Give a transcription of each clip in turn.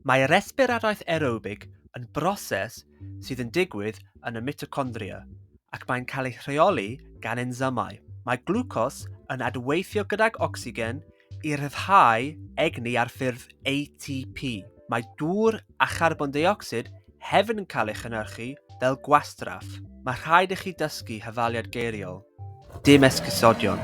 Mae resbiradaeth aerobig yn broses sydd yn digwydd yn y mitocondria ac mae'n cael ei rheoli gan ensymau. Mae glwcos yn adweithio gydag ocsigen i ryddhau egni ar ffurf ATP. Mae dŵr a charbon deuocsid hefyd yn cael ei chynhyrchu fel gwastraff. Mae rhaid i chi dysgu hyfaliad geiriol. Dim esgusodion.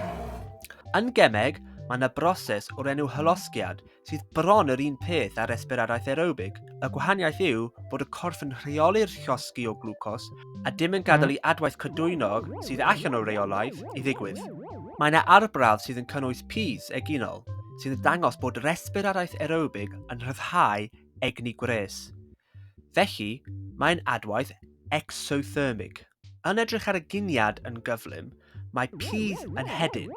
Yn gemeg, mae yna broses o'r enw hylosgiad sydd bron yr un peth â'r esbyradaeth aerobig. Y gwahaniaeth yw bod y corff yn rheoli'r llosgi o glwcos a dim yn gadael i adwaith cydwynog sydd allan o reolaidd i ddigwydd. Mae yna arbrawf sydd yn cynnwys pys eginol sydd yn dangos bod yr esbyradaeth aerobig yn rhyddhau egni gwres. Felly, mae'n adwaith exothermig. Yn edrych ar y giniad yn gyflym, mae pydd yn hedyn,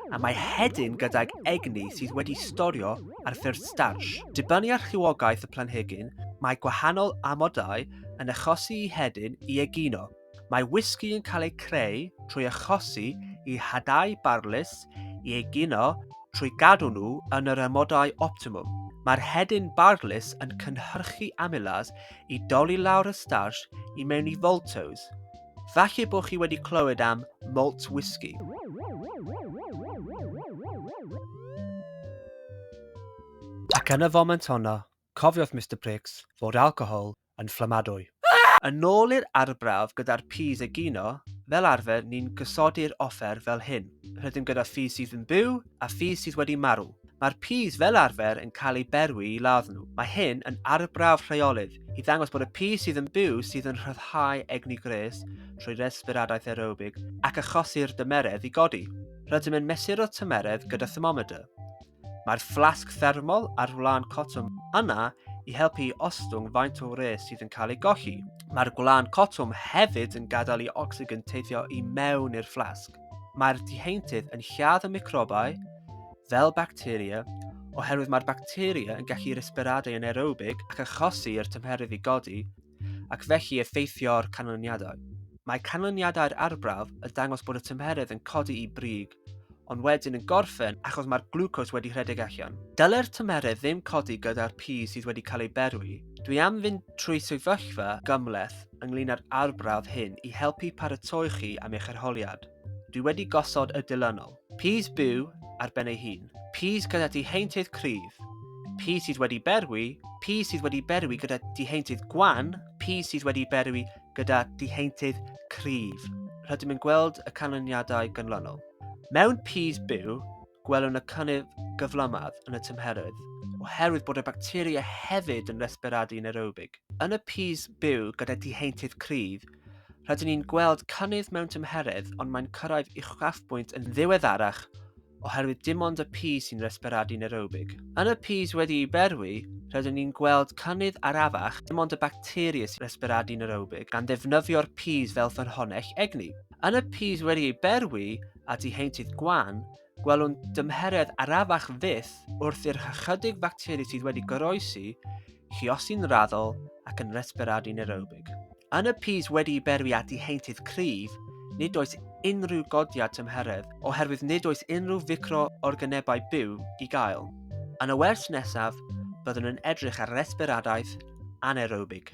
a mae hedyn gydag egni sydd wedi storio ar ffurf starch. Dibynnu ar rhywogaeth y planhigyn, mae gwahanol amodau yn achosi i hedyn i egino. Mae whisky yn cael ei creu trwy achosi i hadau barlys i egino trwy gadw nhw yn yr amodau optimwm. Mae'r hedyn barlys yn cynhyrchu amylase i dolli lawr y starch i mewn i voltos. Falle bod chi wedi clywed am malt whisky. Ac yn y foment honno, cofiodd Mr Pricks fod alcohol yn fflamadwy. Yn ôl i'r arbrawf gyda'r peas egino, fel arfer ni'n gosodi'r offer fel hyn, rydym gyda phi sydd yn byw a phi sydd wedi marw. Mae'r pys fel arfer yn cael ei berwi i ladd nhw. Mae hyn yn arbrawf rheolydd i ddangos bod y pys sydd yn byw sydd yn rhyddhau egni gwres trwy resfiradaeth aerobig ac achosi'r dymeredd i godi. Rydym yn mesur y tymeredd gyda thermometer. Mae'r fflasg thermol ar wlân cotwm yna i helpu i ostwng faint o wres sydd yn cael ei golli. Mae'r gwlân cotwm hefyd yn gadael i ocsigen teithio i mewn i'r fflasg. Mae'r diheintydd yn lladd y microbau, fel bacteria, oherwydd mae'r bacteria yn gallu resperadau yn aerobig ac achosi i'r tymheredd i godi, ac felly effeithio'r canlyniadau. Mae canlyniadau'r arbrawf yn dangos bod y tymheredd yn codi i brig, ond wedyn yn gorffen achos mae'r glwcos wedi rhedeg allan. Dyle'r tymheredd ddim codi gyda'r pys sydd wedi cael ei berwi. Dwi am fynd trwy sefyllfa gymhleth ynglyn â'r arbrawf hyn i helpu paratoi chi am eich arholiad. Dwi wedi gosod y dilynol. Pys byw ar ben ei hun. Pys gyda diheintydd cryf. Pys sydd wedi berwi. Pys sydd wedi berwi gyda diheintydd gwan. Pys sydd wedi berwi gyda diheintydd cryf. Rydym yn gweld y canlyniadau gynlonol. Mewn pys byw, gwelwn y cynnydd gyflymaf yn y tymheredd, oherwydd bod y bacteria hefyd yn resberadu yn aerobig. Yn y pys byw gyda diheintydd cryf, rydyn ni'n gweld cynnydd mewn tymheredd ond mae'n cyrraedd uchafbwynt yn ddiweddarach oherwydd dim ond y pys sy'n resberadu yn aerobig. Yn y pys wedi'i berwi, rydyn ni'n gweld cynnydd arafach dim ond y bacteria sy'n resberadu yn aerobig gan ddefnyddio'r pys fel ffynhonnell egni. Yn y pys wedi'i berwi, at y heintydd gwan, gwelwn dymheredd arafach fyth wrth i'r hychydig facteri sydd wedi goroesi lluosi'n raddol ac yn resperadu nerobig. Yn y pys wedi i berwi at y heintydd cryf, nid oes unrhyw godiad tymheredd oherwydd nid oes unrhyw ficroorganebau byw i gael. Yn y wers nesaf, byddwn yn edrych ar resperadaeth anaerobig.